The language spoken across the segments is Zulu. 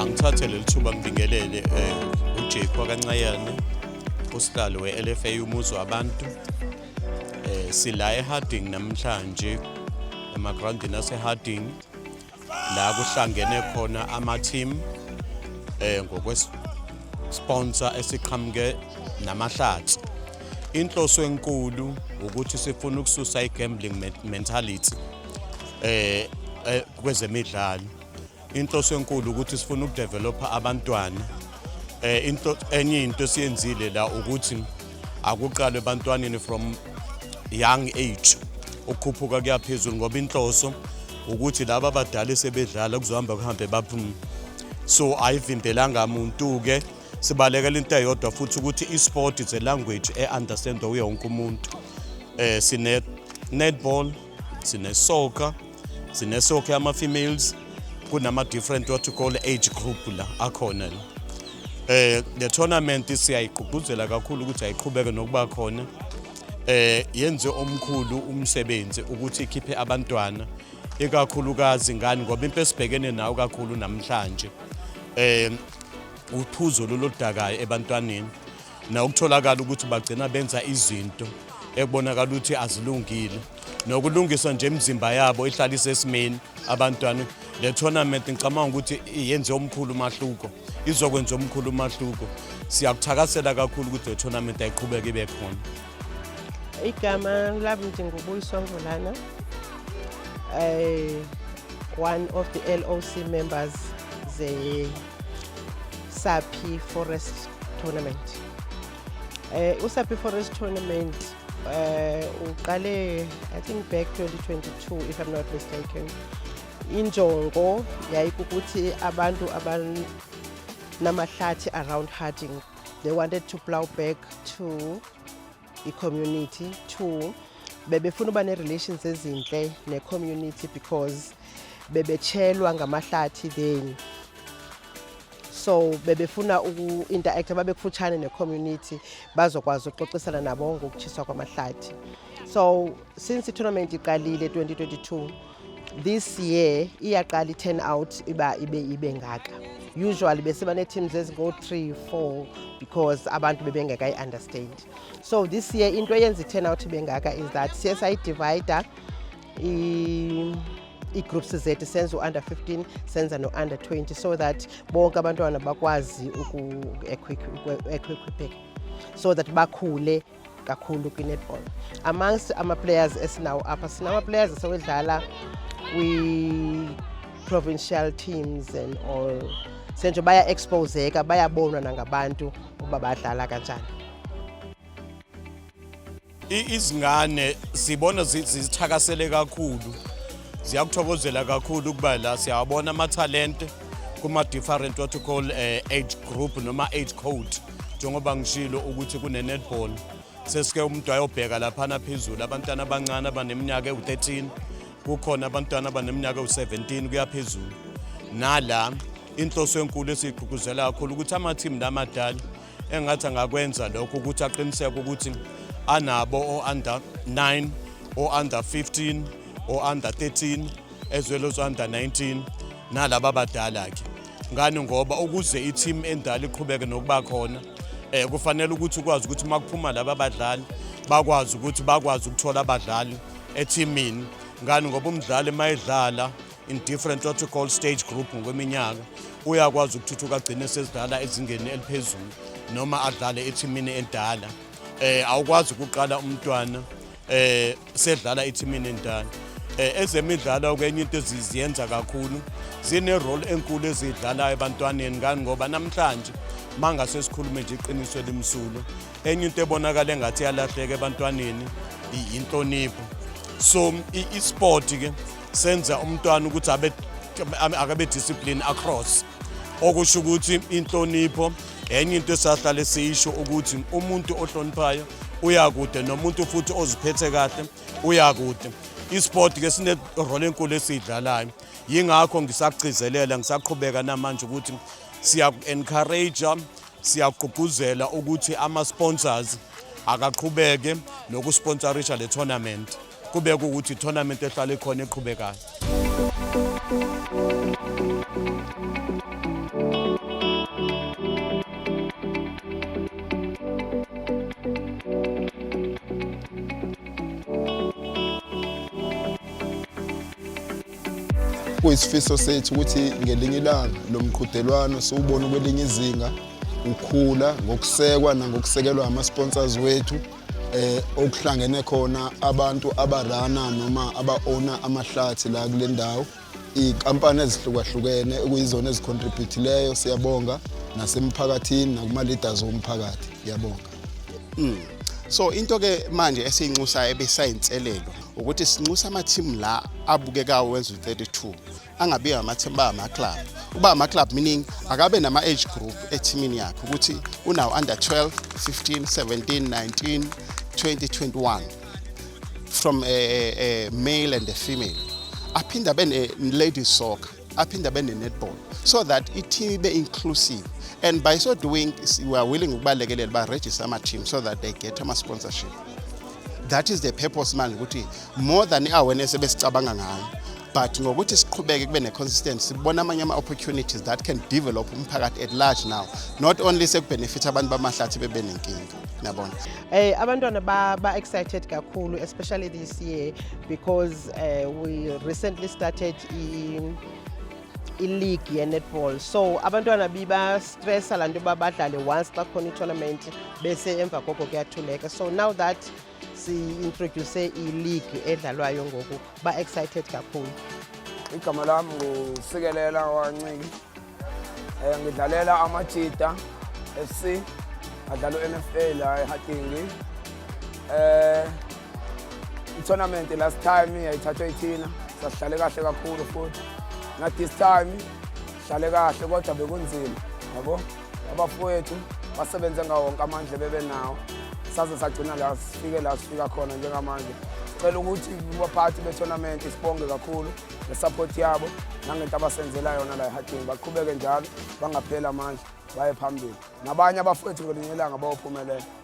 Angithathe leli thuba ngibingelele eh, uJake wakancayane usihlalo we-LFA umuzi wabantu eh, sila eHarding namhlanje emagrawundini aseHarding la kuhlangene khona ama-team eh, ngokwesponsor esiqhamuke namahlathi inhloso enkulu ukuthi sifuna ukususa i-gambling mentality eh, eh kwezemidlalo inhloso enkulu ukuthi sifuna ukudevelopha abantwana eh into enye into esiyenzile la ukuthi akuqalwe ebantwaneni from young age ukukhuphuka kuyaphezulu ngoba inhloso ukuthi laba abadala esebedlala kuzohamba kuhambe baphume so ayivimbelanga muntu ke sibalekela into eyodwa futhi ukuthi i-sport is a language e-understandwa uye wonke umuntu um sine-netball sinesoka sinesoka yama-females kunama-different what you call age group la akhona la eh the tournament siyayigqugquzela kakhulu ukuthi ayiqhubeke nokuba khona eh yenze omkhulu umsebenzi ukuthi ikhiphe abantwana ikakhulukazi ngani ngoba into esibhekene nayo kakhulu namhlanje eh uphuzo lolodakayo ebantwaneni nokutholakala ukuthi bagcina benza izinto ekubonakala ukuthi azilungile nokulungiswa nje imizimba yabo ihlala isesimeni abantwana le tournament ngicabanga ukuthi yenze omkhulu umahluko izokwenza omkhulu umahluko siyakuthakasela kakhulu ukuthi le tournament ayiqhubeke ibe khona igama lami ndingubuyiswa ngulana um one of the loc members ze Saphi Forest Tournament. Eh uSaphi Forest Tournament eh uqale I think back 2022 if I'm not mistaken. Injongo yayikukuthi abantu abanamahlathi around Harding they wanted to plow back to i-community two bebefuna uba ne-relations ezinhle ne-community because bebetshelwa ngamahlathi then so bebefuna uku-interacta babekufutshane ne-community bazokwazi ukuxoxisana nabo ngokutshiswa kwamahlathi so since i-tournament iqalile 2022 This year iyaqala i-turn out iba ibe ibe ngaka. Usually bese bane teams ezingo 3 4 because abantu bebengeka i understand. So this year into eyenza i-turn out ibe ngaka is that siye sayi divider i i-groups zethu senza u-under 15 senza no-under 20 so that bonke abantwana bakwazi uku-equipeka so that bakhule kakhulu kwi-netball amongst ama-players esinawo apha sinama-players esewedlala kwi-provincial teams and all senje baya-exposeka bayabonwa nangabantu ukuba badlala kanjani izingane sibona zithakasele kakhulu ziyakuthokozela kakhulu ukuba la siyawabona amathalente kuma-different what you call uh, age group noma age code njengoba ngishilo ukuthi kune-netball sesike umuntu ayobheka laphana phezulu abantwana abancane abaneminyaka ewu-13 kukhona abantwana abaneminyaka ewu-17 kuyaphezulu nala inhloso enkulu esiyigqugquzela kakhulu ukuthi amathimu lamadala engathi angakwenza lokho ukuthi aqiniseke ukuthi anabo o-under 9 o-under 15 o-under 13 ezwelo zo-under 19 nalaba badala-ke ngani ngoba ukuze i-team endala iqhubeke nokuba khona eh kufanele ukuthi ukwazi ukuthi makuphuma laba badlali bakwazi ukuthi bakwazi ukuthola abadlali ethimini ngani ngoba umdlali mayedlala in different what we call stage group ngokweminyaka uyakwazi ukuthuthuka agcine sesidlala ezingeni eliphezulu noma adlale ethimini endala eh awukwazi ukuqala umntwana eh sedlala ithimini endala eh, ezemidlalo kwenye into eziziyenza kakhulu zine role enkulu ezidlalayo ebantwaneni ngani ngoba namhlanje mangase sikhulume nje iqiniso elimsulo enye into ebonakala engathi yalahleka ebantwaneni inhlonipho so i-sport ke senza umntwana ukuthi abe akabe discipline across okusho ukuthi inhlonipho enye into esahlale siyisho ukuthi umuntu ohloniphayo uyakude nomuntu futhi oziphethe kahle uyakude isport ke sine role enkulu esidlalayo yingakho ngisagcizelela ngisaqhubeka namanje ukuthi siya encourage siyagqugquzela ukuthi ama sponsors akaqhubeke nokusponsorisha le tournament kube kuwukuthi itournament ehlala ikhona eqhubekayo kuyisifiso sethu ukuthi ngelinye ilanga lo mqhudelwano siwubone kwelinye izinga ukhula ngokusekwa nangokusekelwa ama-sponsors wethu eh okuhlangene khona abantu abarana noma abaona amahlathi la kule ndawo iy'nkampani ezihlukahlukene okuyizona ezicontributhileyo siyabonga nasemphakathini nakuma-leaders womphakathi ngiyabonga mm. so into-ke manje esiyinxusayo ebesayinselelo ukuthi sinxusa amathimu la abukekawo wenza u-32 angabi amathemba amaclub uba amaclub meaning akabe nama-age group ethimini yakhe ukuthi unawo under 12 15 17 19 20 21 from a, a, a male and a female aphinde abe ne-ladies soccer aphinde abe ne-netball so that i-team ibe inclusive and by so doing we are willing ukubalekelela baregister ama-team so that they get ama-sponsorship that is the purpose manje ukuthi more than i-awareness ebesicabanga ngayo but ngokuthi siqhubeke kube ne-consistent sibona amanye ama-opportunities that can develop umphakathi at large now not only sekubhenefitha abantu bamahlathi bebe nenkinga nabona eh abantwana ba, ba excited kakhulu especially this year because uh, we recently started in i-league ye-netball so abantwana bibastressa laa nto uba badlale once xa khona itournament bese emva koko kuyathuleka so now that si-introduce i-league edlalwayo ngoku ba-excited kakhulu igama lam ngusikelela wanciki um eh, ngidlalela amajita f c adlala u-n f a la ehatingi um eh, itournament last time yayithathwa ithina sahlale kahle kakhulu futhi na this time hlale kahle kodwa bekunzima yabo abafowethu basebenze ngawo wonke amandla bebenawo saze sagcina la sifike la sifika khona njengamanje sicela ukuthi kubaphathi bethonamenti sibonge kakhulu ngesapoti yabo nangento abasenzela yona la ehadini baqhubeke njalo bangapheli amandla baye phambili nabanye abafowethu ngelinye ilanga bayophumelela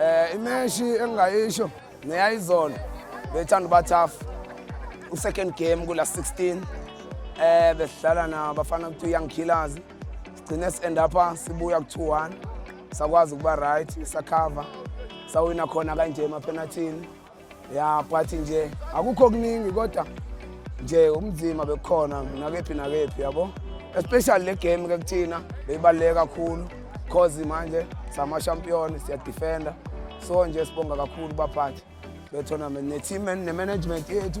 Eh imeshi engingayisho neyayizona bethanda uba tough. U second game kula 16 eh besidlala na bafana kuthi young killers. Sigcine si end up sibuya ku 2-1. Sakwazi ukuba right, sakhava. Sawina khona kanje emapenalthini. ya but nje akukho kuningi kodwa nje umzima bekukhona nakephi nakephi yabo especially le game ke kuthina beyibaluleke kakhulu cause manje samashampiyoni siyadefenda so nje sibonga kakhulu baphathi bethonament ne-team ne-management yethu